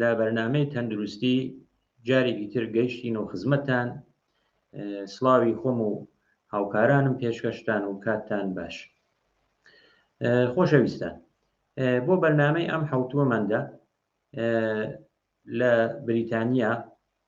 لە بەرنامەی تەندروستی جارێکی تر گەیشتین و خزمەتان سڵاوی خۆم و هاوکارانم پێشکەشتان و کاتتان باش خۆشەویستان بۆ بەرنمەی ئەم حوتووەماندا لە بریتانیا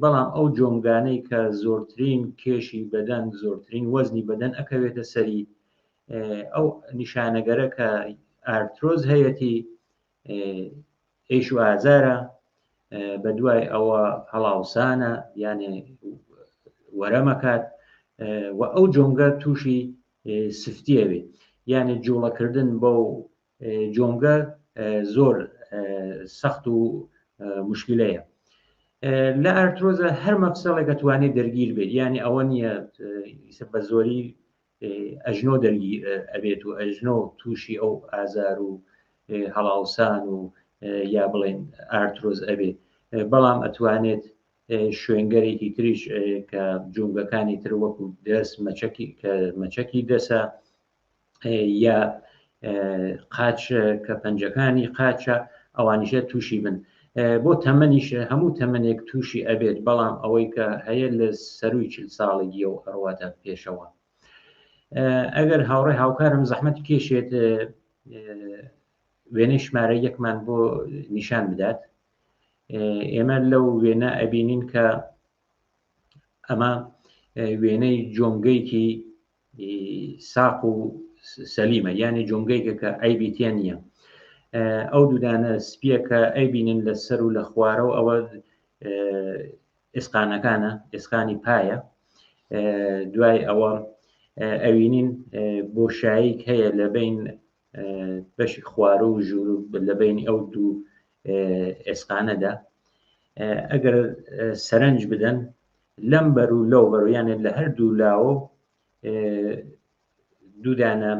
بەڵام ئەو جۆنگانەی کە زۆرترین کێشی بەدەن زۆرترین وەزنی بەدەن ئەکەوێتە سەری ئەو نیشانەگەرە کە ئارتۆز هەیەتی ئێش و ئازارە بە دوای ئەوە هەڵاوسانە یانێ وەرەمەکات و ئەو جۆنگە تووشی سفتیەوێ یانێ جوڵەکردن بەو جۆمگە زۆر سەخت و مشکلەیە لە ئارتۆزە هەر مەفسەڵێکە توانێت دەرگیر بێت ینی ئەوە نییە بە زۆری ئەژنۆ دەرگی ئەبێت و ئەژنۆ تووشی ئەو ئازار و هەڵاوسان و یا بڵێن ئارتۆز ئەبێت بەڵام ئەتوانێت شوێنگەرێکی تریش کە جونگەکانی تر وەکو دەست مەچەکی کە مەچەکی دەسە یا قاچ کە پەنجەکانی قاچە ئەوانیشە تووشی بن بۆ تەمەنیش هەموو تەمەنێک تووشی ئەبێت بەڵام ئەوەی کە هەیە لە سەروی چل ساڵێکی و ئەڕواتە پێشەوە ئەگەر هاوڕێ هاوکارم زەحمەت کێشێت وێنەی ژمارە یەکمان بۆ نیشان بدات ئێمە لەو وێنە ئەبینین کە ئەمە وێنەی جۆنگەیەکی ساق و سەلیمە یانێ جۆنگەیکە کە ئەیبی تێ نییە ئەو دوودانە سپیەکە ئەیبینن لە سەر و لە خوارەوە ئەوە ئێسقانەکانە ئێسقانی پایە دوای ئەوە ئەوینین بۆشاییک هەیە لە بین بەشی خوارە و ژوور لە بین ئەو دوو ئێسقانەدا ئەگەر سەرنج بدەن لەم بەر و لەو بەر یانێ لە هەر دوو لاوە دوودانە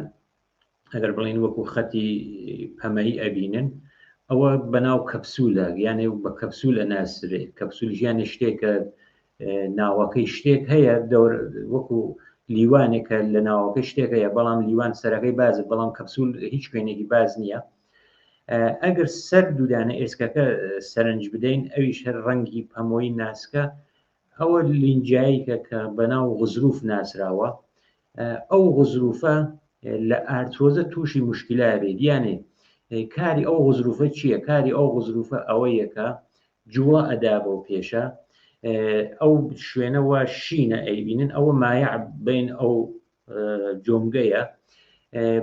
ئەگەر بڵین وەکو خەتی پەمەی ئەبینن ئەوە بەناو کەپسولە یانێ بە کەپسول ئەناسرێ کەپسول ژیانە شتێکە ناوەکەی شتێک هەیە دەور وەکو لیوانێکە لە ناوەکە شتێکەیە بەڵام لیوان سەرەکەی باز بەڵام کەپسول هیچ شوێنێکی باز نییە ئەگەر سەر دوودانە ئێسکەکە سەرنج بدەین ئەویش هەر ڕەنگی پەمۆی ناسکە ئەوە لینجاییکە کە بەناو غزروف ناسراوە ئەو غزروفە لە ئارتۆزە تووشی مشکلا بێت یانێ کاری ئەو غزروفە چییە کاری ئەو غزروفە ئەوە یەکە جووە ئەدا بۆ پێشە ئەو شوێنەوە شینە ئەیبینن ئەوە مایە بین ئەو جۆمگەیە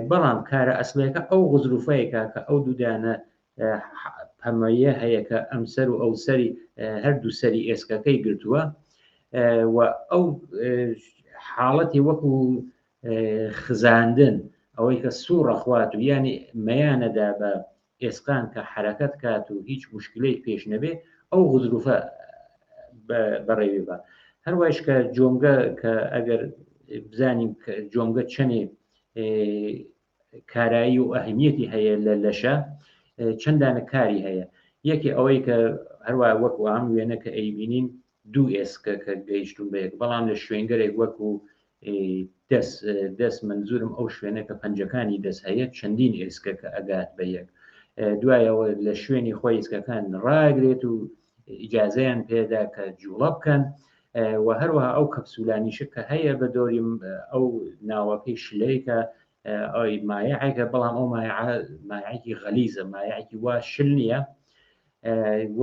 بەڵام کارە ئەسمەکە ئەو غزروفەیەکە کە ئەو دوودانە پەمەیە هەیە کە ئەم سەر و ئەو سەری هەردوو سەری ئێسکەکەی گرتووە و ئەو حاڵەتی وەکو خزاندن ئەوەی کە سوڕە خوات و ینی مەیانەدا بە ئێسقان کە حەرەکەت کات و هیچ موشکیلەیک پێش نەبێ ئەو غزروفە بەڕێوی بە هەروایش کە جۆمگە کە ئەگەر بزانین جۆمگە چەنێ کارایی و ئەهمیەتی هەیە لە لەشە چەندانە کاری هەیە یەکی ئەوەی کە هەروە وەکو ئەم وێنە کە ئەیبینین دوو ئێسکە کە گەیشتوم بە یەک بەڵام لە شوێنگەرێک وەکو دەست دەست منزورم ئەو شوێنە کە پەنجەکانی دەست هەیە چەندین ئێسکە کە ئەگات بە یەک دوایەوە لە شوێنی خۆی ئێسکەکان ڕاگرێت و ئیجاازەیان پێدا کە جوڵە بکەن و هەروەها ئەو کەپسولانیشە کە هەیە بە دۆری ئەو ناوەکەی شلەیەکە ئەوی مایعێکە بەڵام ئەو مایعێکی غەلیزە مایعێکی وا شل نییە و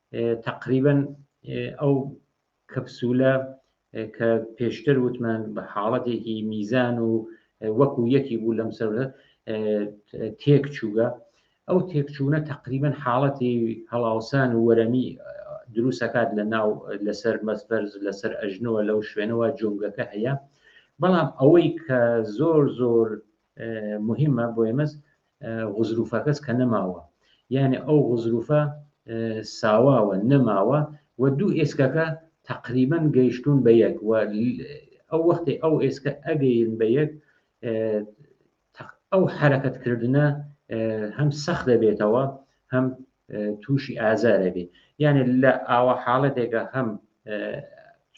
تقریبن ئەو کەپسولە کە پێشتر وتمان بە حاڵەتێکی میزان و وەکو یەکی بوو لەم سەر تێک چووگە ئەو تێکچوونە تقریبن حاڵەتی هەڵاوسان و وەرەمی دروستەکات لە ناو لەسەر مەسبەرز لەسەر ئەژنەوە لەو شوێنەوە جۆنگەکە هەیە بەڵام ئەوەی کە زۆر زۆر مهمە بۆ ئێمەس غزروفەکەس کە نەماوە یانێ ئەو غزروفە ساواوە نەماوە و دوو ئێسکەکە تقریبان گەیشتون بە یەک و ئەو وەختی ئەو ئێسکە ئەگەین بە یەک ئەو حرەکەتکردە هەم سەخت دەبێتەوە هەم تووشی ئازارە بێ یانێ لە ئاوا حاڵەتێکە هەم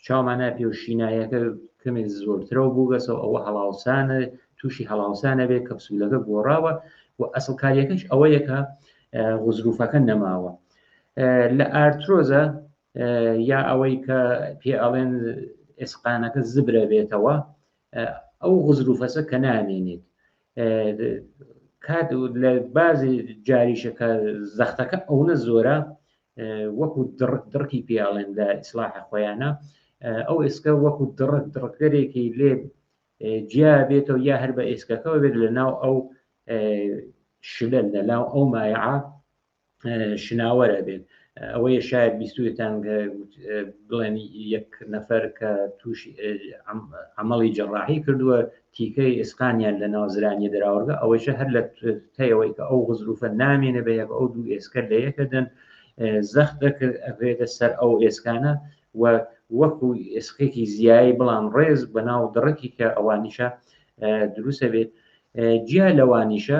چاومانە پێ و شینایەکە کەمێک زۆرترەوە بووگەسەوە ئەوە هەڵاوسانە تووشی هەڵاوسانە بێ کەپسولەکە گۆڕاوە و ئەسڵکاریەکەش ئەوە یەکە غزروفەکە نەماوە لە ئارتۆزە یا ئەوەی کە پێ ئەڵێن ئێسقانەکە زبرە بێتەوە ئەو غزروفەسە کە نامێنێت کات لە بازی جاریشەکە زەختەکە ئەوە زۆرە وەکو دڕکی پیاڵێن لە ئیسلاحە خۆیانە ئەو ئێسکە وەکو دڕک دڕکەرێکی لێ جیا بێتەوە یا هەر بە ئێسکەکەەوە بێت لە ناو ئەو شلە لە ناو ئەو مایعە شناوەر ئەبێت ئەوەیە شاید بیستوێتان بڵێن یەک نەفەر کە تووشی ئەمەڵی جەڕاحی کردووە تیکەی ئێسقانیان لە ناوزرانی دراوەگە ئەوەیشە هەر لە تەیەوەی کە ئەو غزروفە نامێنە بە یەک ئەو دوو ئێسکە لە یەکەدەن زەخت دەکرد ئەێتە سەر ئەو ئێسکانە و وەکو ئێسقێکی زیایی بڵام ڕێز بە ناو دڕکی کە ئەوانیشە دروستە بێت جیا لەوانیشە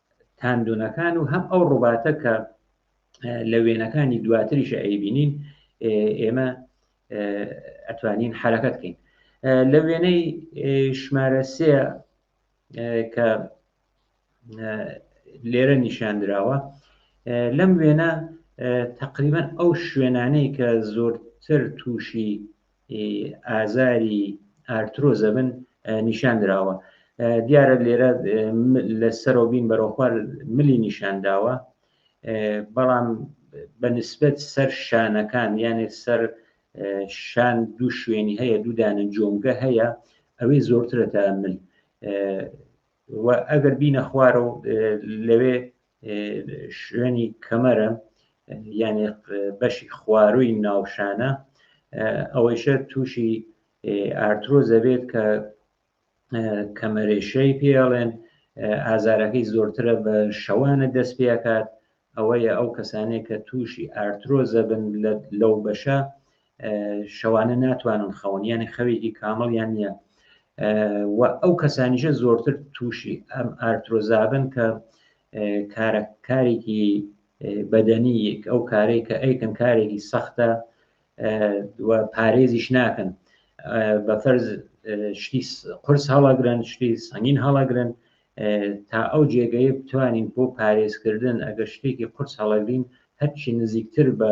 تاندونەکان و هەم ئەو ڕوباتە کە لە وێنەکانی دواتریش ئەیبینین ئێمە ئەتوانین حرەکەت بکەین لە وێنەی ژمارە سێ کە لێرە نیشاندراوە لەم وێنە تقریبان ئەو شوێنانەی کە زۆرتر تووشی ئازاری ئارترۆزە بن نیشاندراوە دیارە لێرە لە سەرۆ بین بەرەخوار ملی نیشانداوە بەڵام بە نسبەت سەر شانەکان یانێ سەر شان دوو شوێنی هەیە دوودانە جۆمگە هەیە ئەوەی زۆرترە تا مل ئەگەر بینە خوارە و لەوێ شوێنی کەمەرە یانێ بەشی خواروی ناوشانە ئەوەیشە تووشی ئارتۆ دەبێت کە کەمەرێشەی پێڵێن ئازارەکەی زۆرترە بە شەوانە دەست پێکات ئەوەیە ئەو کەسانێک کە تووشی ئارتۆ زەبن لەو بەشە شەوانە ناتوانن خەون یانە خەوێکی کامەڵیان نییە و ئەو کەسانیشە زۆرتر تووشی ئەم ئارتۆزابن کە کارێکی بەدەنی ئەو کارێک کە ئەیکن کارێکی سەختە پارێزیش ناکەن بە فەرز شتی قرس هەڵاگرن شتی سەنگین هەڵاگرن تا ئەو جێگەی بتوانین بۆ پارێزکردن ئەگەر شتێکی قرس هەڵەگرین هەرچی نزیکتر بە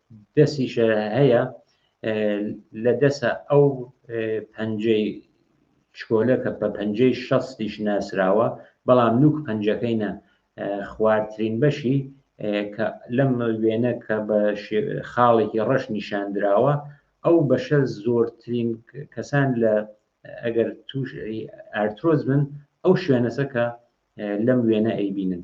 دەسیشە هەیە لە دەسە ئەو پەنجەی شکۆلە کە بە پەنجەی شەستیش ناسراوە بەڵام نوک پەنجەکەینە خوارترین بەشی کە لەم وێنە کە بە خاڵێکی ڕەش نیشاندراوە ئەو بەشە زۆرترین کەسان لە ئەگەر توش ئارتۆز بن ئەو شوێنەسە کە لەم وێنە ئەیبینن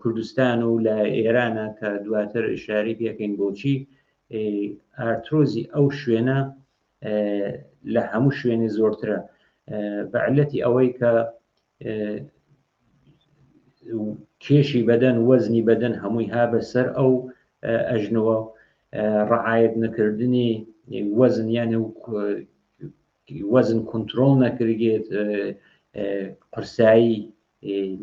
کوردستان و لە ئێرانە کە دواتر شاری پێکەین بۆچی ئارتۆزی ئەو شوێنە لە هەموو شوێنێ زۆرترە بەعلەتی ئەوەی کە کێشی بەدەن وەزنی بەدەن هەمووی ها بەسەر ئەو ئەژنەوە ڕعاەت نەکردنی وەزن یانە و وەزن کنترۆل نەکرگێت قرسایی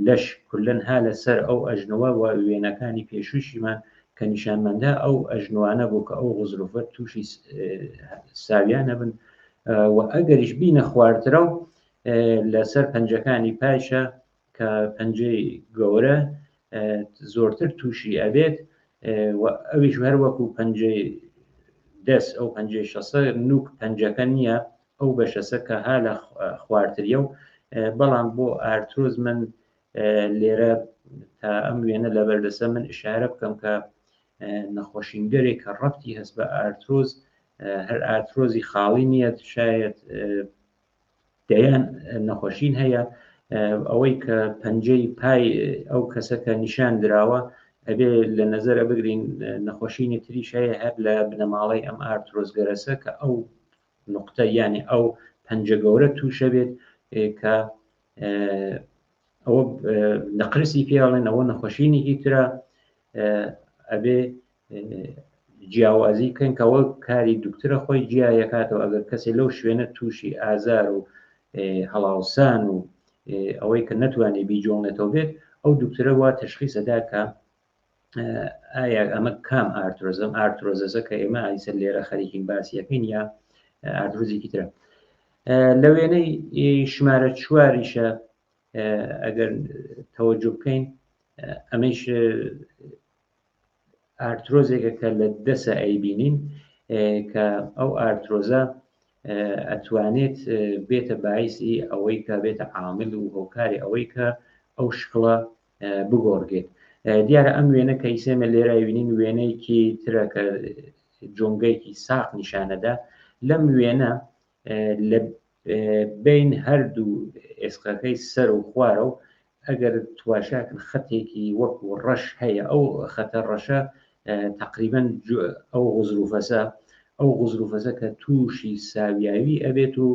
لەش کولەن ها لە سەر ئەو ئەژنۆە وە وێنەکانی پێشووشیمان کە نیشانماندا ئەو ئەژنۆانە بوو کە ئەو غزرۆفە تووشی ساویانە بن و ئەگەریش بینە خواردرا و لەسەر پەنجەکانی پایشە کە پەنجەی گەورە زۆرتر تووشی ئەبێت ئەویش هەر وەکو پەنجەی دەست ئەو پەنجەی شەسە نوک پەنجەکە نییە ئەو بەشەسە کە ها لە خواردتریە و بەڵام بۆ ئارتۆز من لێرە تا ئەم وێنە لە بەردەسە من ئشارە بکەم کە نەخۆشینگەرێک کە ڕەتی هەست بە ئارتۆز هەر ئارتۆزی خاڵی نییە شاید دەیان نەخۆشین هەیە ئەوەی کە پەنجەی پای ئەو کەسە کە نیشان دراوە ئەبێ لە نظرە بگرین نەخۆشینی تریش هەیە هەر لە بنەماڵەی ئەم ئارتۆزگەرەسە کە ئەو نقطە یانێ ئەو پەنجە گەورە تووشە بێت کە ئەوە نەقرسی پێڵێن ئەوە نەخۆشینێکی ترە ئەبێ جیاوازی کەن کەەوە کاری دوکترە خۆی جیایەکاتەوە ئەگەر کەسێک لەو شوێنە تووشی ئازار و هەڵاوسان و ئەوەی کە نەتوانێت بیجۆڵێتەوە بێت ئەو دوکترە وا تشخیسەدا کە ئایا ئەمە کام ئارتۆزم ئارتۆزەزە کە ئێمە ئایسەر لێرە خەریکین باسی یەکەین یا ئاردروزێکی ترە لە وێنەی ژمارە چواریشە ئەگەر تەوەجو بکەین ئەمەش ئارتۆزێکە کە لە دەسە ئەیبینین کە ئەو ئارتۆزە ئەتوانێت بێتە باعیسی ئەوەی کە بێتە عامل و هۆکاری ئەوەی کە ئەو شکڵە بگۆڕدرێت دیارە ئەم وێنە کە ئیسێمە لێرای وینین وێنەیەکی ترە کە جۆنگەیەکی ساق نیشانەدا لەم وێنە لە بین هەردوو ئێسقەکەی سەر و خوارە و ئەگەر تواشاکن خەتێکی وەکو ڕەش هەیە ئەو خەتە ڕەشە تقریبن ئەو غزروفەسە ئەو غزروفەسە کە تووشی ساویاوی ئەبێت و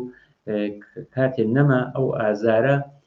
کاتێ نەما ئەو ئازارە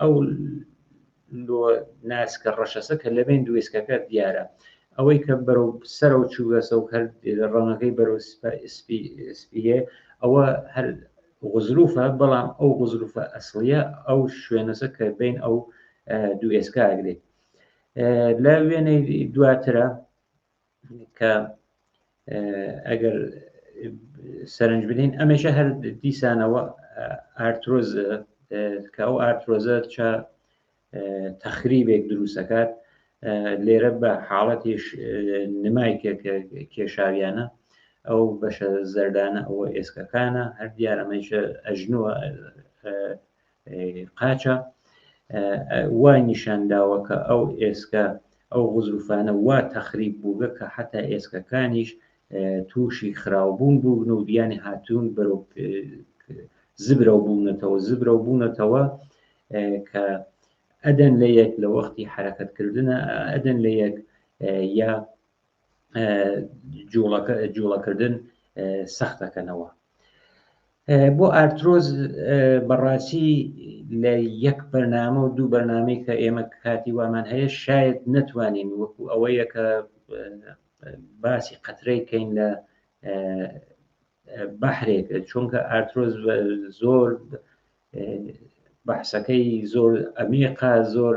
ئەو لۆ ناسکە ڕەشەسە کە لە بین دوێسکەکە دیارە ئەوەی کە بەرەو سەرە و چووگەسە و هەر ڕەنگەکەی بەرەو سپیە ئەوە هەر غزروفە بەڵام ئەو غزروفە ئەسڵە ئەو شوێنەسە کە بین ئەو دوو ئێسکاگرێت لە وێنەی دواترە کە ئەگەر سەرنج بنین ئەمەشە هەر دیسانەوە ئارتۆز کە ئەو ئارتۆزە چە تەخریبێک دروستەکات لێرە بە حاڵەتیش نمای کێشاویانە ئەو بەشە زەردانە ئەوە ئێسکەکانە هەر دیارەمەیشە ئەژنوە قاچە وای نیشانداوە کە ئەو ئێسکە ئەو غزروفانە وا تەخریب بووگە کە حتا ئێسکەکانیش تووشی خراوبوون بوون و دیانی هاتوون بەرەو زبرە و بوونەتەوە زبرە و بوونەتەوە کە ئەدەن لە یەک لە وەختی حرەکەتکردە ئەدەن لە یەک یا جوڵەکردن سەخت دەکەنەوە بۆ ئارتۆز بەڕاستی لە یەک بەرنامە و دوو بەرنمەی کە ئێمە کاتی وامان هەیە شاید نتوانین وەکو ئەوەیە کە باسی قەترەی کەین لە بەحرێک چونکە ئارتۆز زۆر بەحسەکەی زۆر ئەمیقا زۆر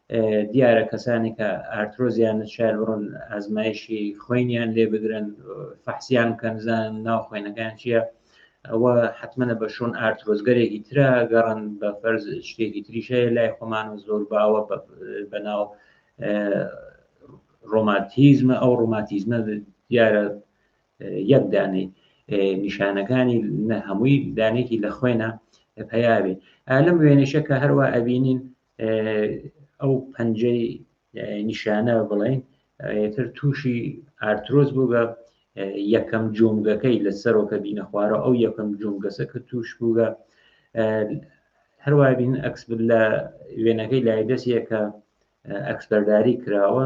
دیارە کەسانی کە ئارتۆزیان نشار بڕۆن ئازمایشی خوێنیان لێ بگرن فەحسیان کەنزان ناو خوێنەکان چییە ئەوە حتممەە بە شۆن ئارتۆزگەرێکی ترا گەڕن بە فەرز شتێکی تریشەیە لای خۆمان و زۆر باوە بە ناو ڕۆماتیزمە ئەو ڕۆماتیزمە دیارە یەک دانەی نیشانەکانی نە هەمووی دانێکی لە خوێنە پەیاوێ ئالم وێنشە کە هەروە ئەبینین ئەو پەنجەی نیشانە بڵێن تر تووشی ئارترۆز بوو بە یەکەم جۆنگەکەی لە سەرۆکە بینە خوارە ئەو یەکەم جۆنگەسە کە توش بووگە هەروای بین ئەکس لە وێنەکەی لای دەستیەکە ئەکسپەرداری کراوە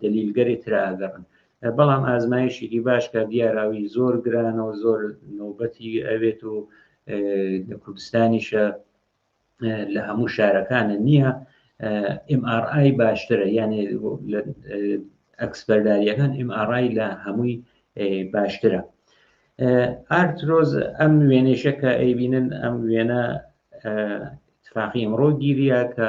دەلیلگەرێ تراگەڕن بەڵام ئازمایشێکی باش کە دیاراوی زۆر گرانەوە زۆر نۆبەتی ئەوێت و لە کوردستانیشە لە هەموو شارەکانە نییە MRI باشترە یانێ ئەکسپەرداریەکان MRI لە هەمووی باشترە ئارترۆز ئەم وێنێشەکە ئەیبینن ئەم وێنە تفاقی ئەمڕۆ گیریا کە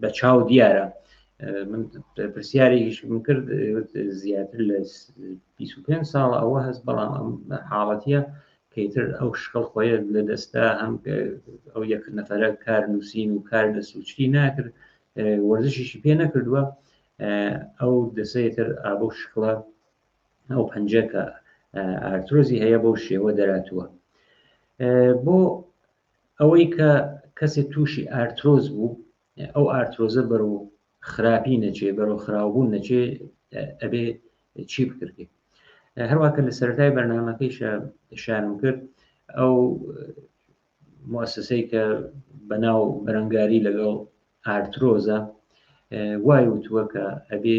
بە چاو دیارە من پرسیارێکیشم کرد زیاتر لە 25 ساڵ ئەوە هەست بەڵام ئەم حاڵەتە کەیتر ئەو شکڵ خۆیە لە دەستا هەم ئەو یەک نەفرە کار نووسین و کار لە سوچری ناکرد وەرزشیشی پێ نەکردووە ئەو دەسەتر ئابە شکڵە ئەو پەنجەکە ئارتۆزی هەیە بەو شێوە دەراتوە بۆ ئەوەی کە کەسێک تووشی ئارترۆز بوو ئەو ئارترۆزە بەرو خراپی نەچێ بەرەو خراوبوون نەچێ ئەبێ چی بکردێت هەروواکە لە سەرای بەرنمەکەیشە شارم کرد ئەو مؤسسەی کە بەناو بەرەنگاری لەگەڵ ئارترۆزە وای وتووە کە ئەبێ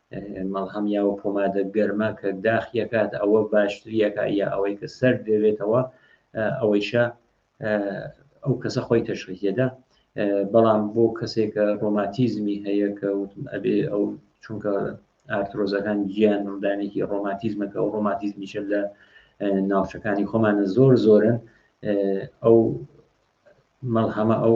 مەڵهەم یاوە پۆمادە گەرمە کە داخیەکات ئەوە باشتریەکە یا ئەوەی کە سەر دەبێتەوە ئەوەیشە ئەو کەسە خۆی تەشخیدە بەڵام بۆ کەسێکە ڕۆماتیزمی هەیە کە وتم ئەبێ ئەو چونکە ئارتۆزەکان گیان ڕدانێکی ڕۆماتیزمەکە و ڕۆماتیزمیشە لە ناوچەکانی خۆمانە زۆر زۆرن ئەو مەڵهەمە ئەو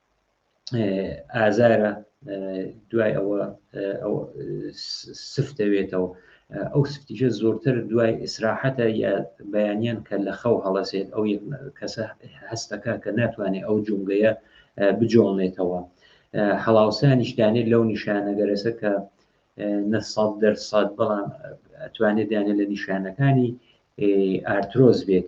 ئازارە دوای ئەوە سفت دەوێتەوە ئەو سفتیشە زۆرتر دوای ئیسراحەتە یا بەیانیان کە لە خەو هەڵەسێت ئەو کەسە هەستەکە کە ناتوانێت ئەو جونگەیە بجۆڵێتەوە هەڵاوسانیش دانێت لەو نیشانەگەرەسە کە نەسەد دەرسەد بەڵام ئەتوانێت دانێت لە نیشانەکانی ئارتۆز بێت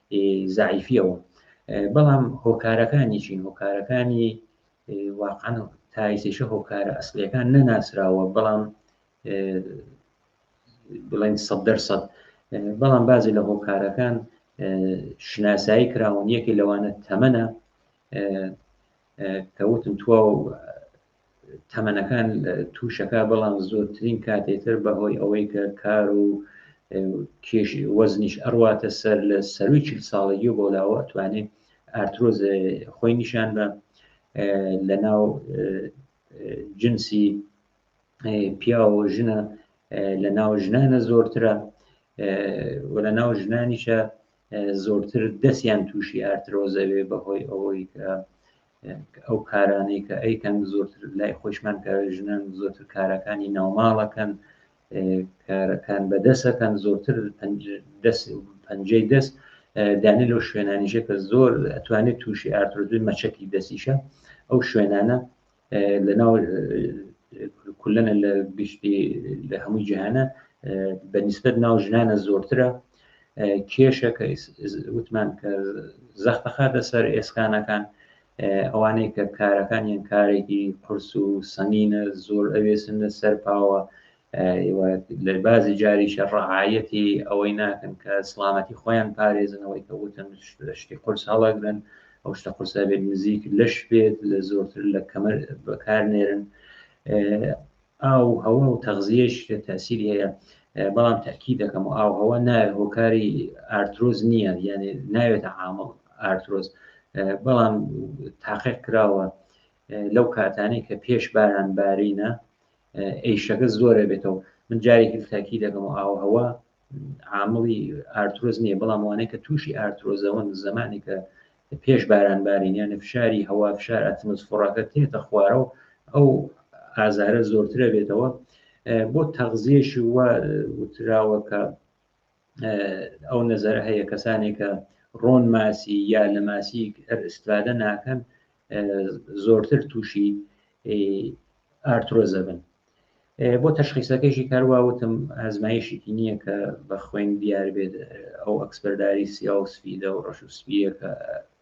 زعیفیەوە بەڵام هۆکارەکانی چین هۆکارەکانی واقعان تایسیشە هۆکارە ئەسلەکان نەناسراوە بەڵام بڵێن سە دەرسەد بەڵام بازی لە هۆکارەکان شناسایی کراون یەکی لەوانە تەمەە کەوتم تو تەمەنەکان تووشەکە بەڵام زۆرترین کاتێتر بەهۆی ئەوەی کە کار و کێش وەزنیش ئەڕواتە سەر لە سەروی چل ساڵەیی و بۆلاوە ئەتوانێت ئارتۆز خۆی نیشان بە لە ناو جنسی پیاوە ژنە لە ناو ژنانە زۆرترە و لە ناو ژنانیشە زۆرتر دەستیان تووشی ئارترۆزەوێ بەهۆی ئەوەی کە ئەو کارانەی کە ئەیکەن زۆرتر لای خۆشمان کە ژنان زۆرتر کارەکانی ناوماڵەکەن کارەکان بەدەسەکەن زۆرتر دەست پەنجەی دەست دانی لەو شوێنانیژە کە زۆر ئەتوانێت تووشی ئارتۆزوی مەچەکی دەستیشە ئەو شوێنانە لەناو کولەنە لە گشتی لە هەموو جیهانە بە نسبت ناو ژنانە زۆرترە کێشەکە وتمان کە زەختە خاتە سەر ئێسکانەکان ئەوانەی کە کارەکانیان کارێکی قرس و سەنگینە زۆر ئەوێسن لە سەر پاوە لە بازی جاریشە ڕەعایەتی ئەوەی ناکەن کە سلامەتی خۆیان پارێزنەوەی کە وتن شتی قرس هەڵەگرن ئەو شتە قرسە بێت نزیک لەش بێت لە زۆرتر لە کەمەر بەکار نێرن ئاو هەوا و تەغزیەش کە تاسیر هەیە بەڵام تاکی دەکەم و ئاوهەوە ناوێت هۆکاری ئارترۆز نییە یعنی ناوێتە عامڵ ئارترۆز بەڵام تاقیق کراوە لەو کاتانەی کە پێش باران بارینە ئەیشەکە زۆرە بێتەوە من جارێکی تاکی دەکەم و ئاوهەوە عاملی ئارتۆز نییە بەڵام وانەیە کە تووشی ئارتۆزەوەن زمانی کە پێش بارانبارینیانە فشاری هەوا فشار ئەتمس فڕەکە تێتە خوارەوە ئەو ئازارە زۆرترە بێتەوە بۆ تەغزیێش وە وتراوە کە ئەو نەزەر هەیە کەسانێکە ڕۆن ماسی یا لە ماسی ئەرسترادە ناکەن زۆرتر تووشی ئارتۆزە بن بۆ تەشخیسەکەیشی کاروا وتم ئازمایشێکی نییە کە بە خوێن دیار بێت ئەو ئەکسپەرداری سیاوسفیدە و ڕەش و سپیەکە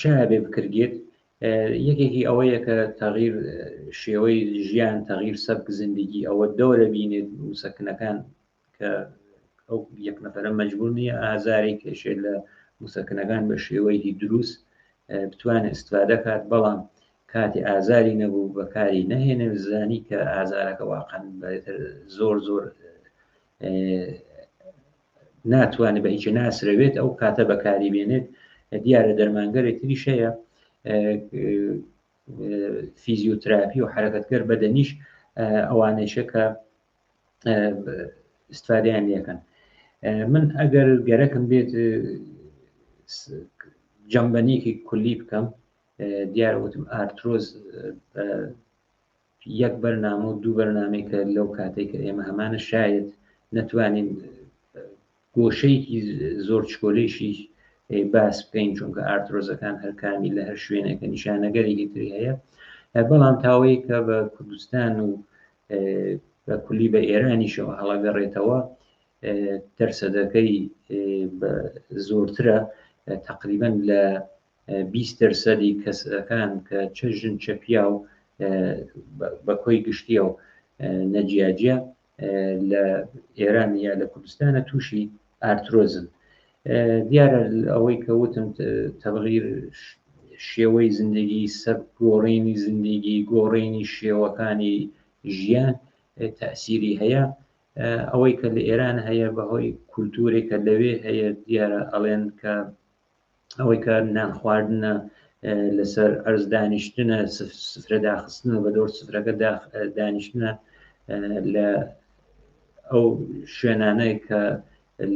چای بێ بکرگێت یەکێکی ئەوەیە کە تەغیر شێوەی ژیان تەغیر سەبک زیندگی ئەوە دەورە بینێت وسەکنەکان کە ئەو یەک نەفرە مەجبور نییە ئازارێک کێشێت لە موسەکنەکان بە شێوەیەکی دروست بتوانێت استفادە کات بەڵام کاتی ئازاری نەبوو بەکاری نەهێنێ زانی کە ئازارەکە واقعن زۆر زۆر ناتوانێت بە هیچ ناسرەوێت ئەو کاتە بەکاری بێنێت دیارە دەرمانگەرێ تریش هەیە فیزیۆتراپی و حرەکەتگەر بەدەنیش ئەوانەیشە کە استفادیان لەکەن من ئەگەر گەرەکم بێت جەمبەنیکی کولی بکەم دیارە وتم ئارتۆز یەک بەرنامە و دوو بەرنامەی کە لەو کاتێک کە ئێمە هەمانە شاید نەتوانین گۆشەیەکی زۆر چکۆلەیشی باس بکەین چونکە ئارتۆزەکان هەرکانی لە هەر شوێنێکە نیشانەگەرێکی تری هەیە بەڵام تاوەی کە بە کوردستان و بە کولی بە ئێرانیشەوە هەڵەگەڕێتەوە تەرسەدەکەی زۆرترە تقریبان لە بیست دەرسەدی کەسەکان کە چە ژن چە پیا و بە کۆی گشتیە و نەجیاجە لە ئێران یا لە کوردستانە تووشی ئارترۆزن دیارە ئەوەی کە وتم تەبغیر شێوەی زندگی سەر گۆڕینی زندگی گۆڕینی شێوەکانی ژیان تاسیری هەیە ئەوەی کە لە ئێران هەیە بەهۆی کولتورێکە لەوێ هەیە دیارە ئەڵێن کە ئەوەی کە نان خواردنە لەسەر ئەرز دانیشتنە سفرە داخستنە بە دەور سفرەکە دانیشتنە لە ئەو شوێنانەی کە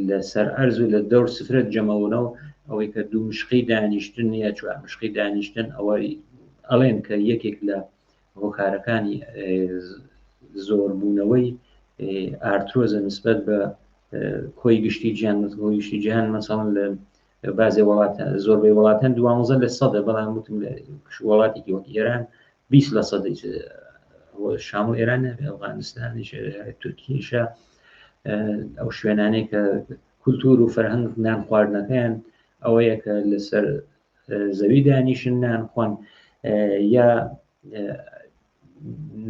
لەسەر ئەرز و لە دەور سفرەت جەمەونەوە ئەوەی کە دوو مشقی دانیشتن یا چوار مشقی دانیشتن ئەوەی ئەڵێن کە یەکێک لە هۆکارەکانی زۆربوونەوەی ئارتۆزە نسبەت بە کۆی گشتی جیان گشتی جیهان مەسەڵەن لە بازێ وڵاتە زۆربەی وڵاتان دوانزە لە سەدە بەڵام وتم لە وڵاتێکی وەک ئێران 20 لە سەدە شام و ئێران ئەفغانستانی تورکیشە ئەو شوێنانێک کە کولتور و فەرهەنگ نان خواردنەکەیان ئەوەیە کە لەسەر زەوی دانیشن نان خۆن یا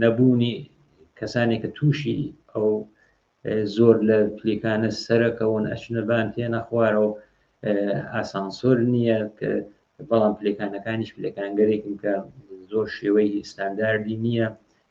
نەبوونی کەسانێک کە تووشی ئەو زۆر لە پلیکانە سەرەکەون ئەچنەبان تێ نەخوارەوە ئاسانسۆر نییە کە بەڵام پلەکانەکانیش پلەکانگەرێکن کە زۆر شێوەی ئستانداردی نییە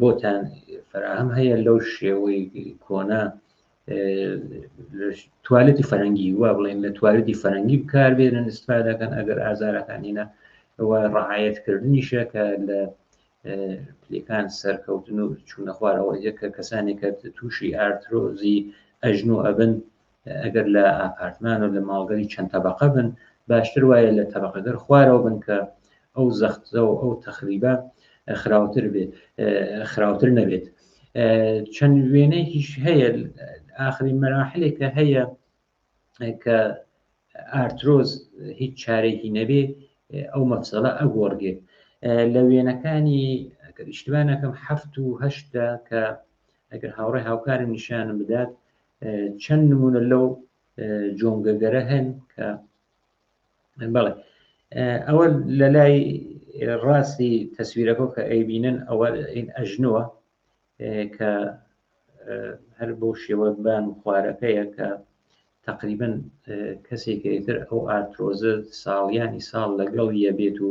بۆتان فراهەم هەیە لەو شێوەی کۆنا توالەتی فەرەنگی وا بڵێن لە توالەتی فەرەنگی بکار بێنن استفادەکەن ئەگەر ئازارەکانینە ئەوە ڕعاەتکردنیشە کە لە پلەکان سەرکەوتن و چوونە خوارەوە یەکە کەسانێکە تووشی ئارترۆزی ئەژن و ئەبن ئەگەر لە ئاپارتمان و لە ماڵگەلی چەند تەبقە بن باشتر وایە لە تەبقەگەر خوارەوە بن کە ئەو زەختە و ئەو تەخریبە خراوتر بێت خراوتر نەبێت چەند وێنەیەکیش هەیە ئاخری مەراحلێکە هەیە کە ئارترۆز هیچ چارێکی نەبێ ئەو مەفسەڵە ئەگۆڕگێت لە وێنەکانی ئیشتوانەکەم هەفت و هەشتا کە ئەگەر هاوڕێ هاوکارم نیشانم بدات چەند نمونە لەو جۆنگەگەرە هەن کە بەڵێ ئەوە لە لای ڕاستی تەسویرەکە کە ئەیبینن ئەوە ئین ئەژنووە کە هەر بۆ شێوە بان و خوارەکەیە کە تقریبن کەسێکتر ئەو ئارتۆزە ساڵیانی ساڵ لەگەڵ یە بێت و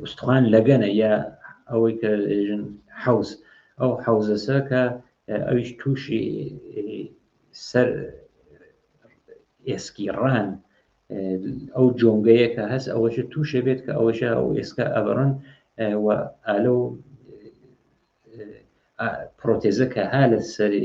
ئوستخوان لەگەنە یا ئەوەی کە ژن حەوز ئەو حەوزەسە کە ئەویش تووشی سەر ئێسکی ڕان ئەو جۆنگەیە کە هەست ئەوەش تووشێ بێت کە ئەوەش ئەو ئێسکە ئەبڕن و ئالە و پرۆتێزە کە ها لە سەری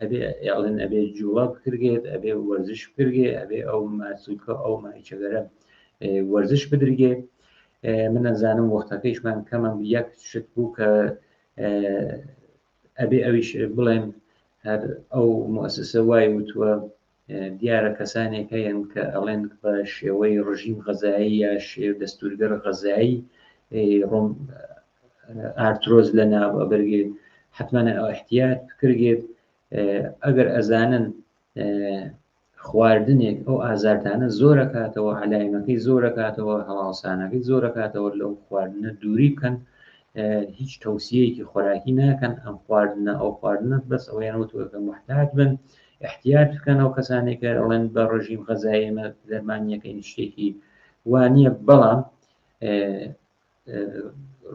ئەبێ ئێڵن ئەبێ جووە بکرگێت ئەبێ وەرزش بکرگێ ئەبێ ئەو ماسوکە ئەو مایچەگەرە وەرزش بدرگێ من ئەزانم وەختەکەیشمان کەمە یەک شت بوو کە ئەبێ ئەویش بڵێن هەر ئەو مؤسسە وای وتووە دیارە کەسانێک هەیەن کە ئەڵێن بە شێوەی ڕژیم غەزایی یا شێو دەستورگەر غەزایی ڕۆم ئارتۆز لە ناو ئەبرگێت حتممانە ئەو احتیات بکرگێت ئەگەر ئەزانن خواردنێک ئەو ئازارتانە زۆرە کاتەوە علاینەکەی زۆرە کاتەوە هەواڵسانەکەی زۆرە کاتەوە لەو خواردنە دووری بکەن هیچ تەوسیەکی خۆراکی ناکەن ئەم خواردنە ئەو خواردنە بەس ئەویان وتوەکە محتاج بن ئیحتیات بکەن ئەو کەسانەی کە ئەڵێن بە ڕژیم غەزای ئێمە دەرمانیەکە هیچ شتێکی وانە بەڵام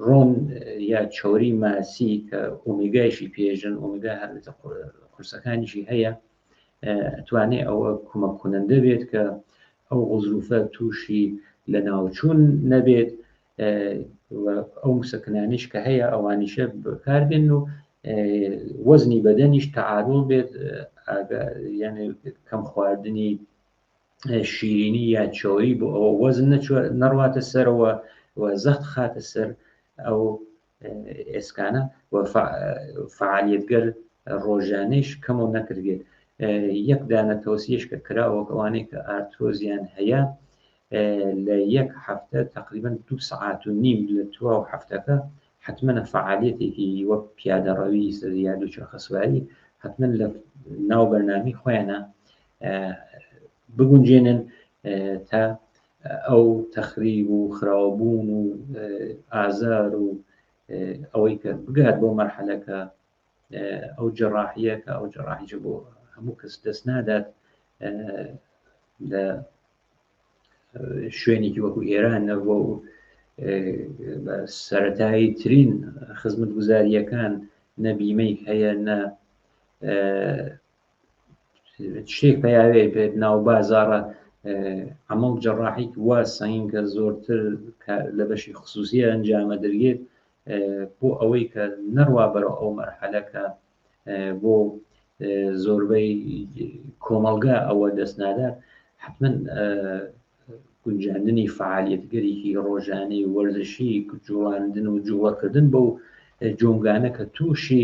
ڕۆن یا چۆری ماسی کە ئۆمیگایشی پێژن ئۆمیگا هەر قورسەکانیشی هەیە توانێ ئەوە کومە کونەندە بێت کە ئەو غزروفە تووشی لە ناوچوون نەبێت ئەو مسەکنانیش کە هەیە ئەوانیشە بەکاربێن و وەزنی بەدەنیش تەعادڵ بێت یانێ کەم خواردنی شیرینی یا چۆری بۆ ئەوە وەزن نەڕواتە سەرەوە و زەخت خاتە سەر ئەو ئێسکانە و فعالیتگەر ڕۆژانەیش کەمەوە نەکردێت یەک دانە تۆسیش کە کراوە ئەوانەی کە ئارتۆزیان هەیە لە یەک هەفتە تقریبن دو سعات و نیم لە توا و هەفتەکە حتممەە فعالیتێکی وەک پیادەڕەوی یا دوو چرخەسواری حتمما لە ناو بەرنامی خۆیانە بگونجێنن تا ئەو تەخریب و خراوەبوون و ئازار و ئەوەی کە بگات بۆ مەرحەلەکە ئەو جەڕاحیە کە ئەو جەڕاحیجە بۆ هەموو کەس دەست نادات لە شوێنێکی وەکو ئێران نەبوو و بە سەتایی ترین خزمەت گوزاریەکان نەبیمەی هەیە نە شتێک پیاوێ بێت ناو بازارە ئەمەڵ جەڕاحیت وا سەنگ کە زۆرتر لە بەشی خصوصی ئەنجامە دەرگێت بۆ ئەوەی کە نەڕوا بەرە ئەو مەرحەلەکە بۆ زۆربەی کۆمەڵگا ئەوە دەست نادات حتمما گونجاندنی فعالیتگەرێکی ڕۆژانەی وەرزشی جوڵاندن و جوڵەکردن بەو جۆنگانە کە تووشی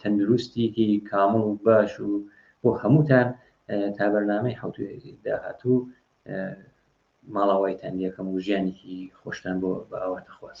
تەندروستیکی کامڵ و باش و بۆ هەمووتان تا بەرنامەی حوت داهاتوو ماڵاوایتان یەکەم و ژیانێکی خۆشتان بۆ بە ئاواتە خواز.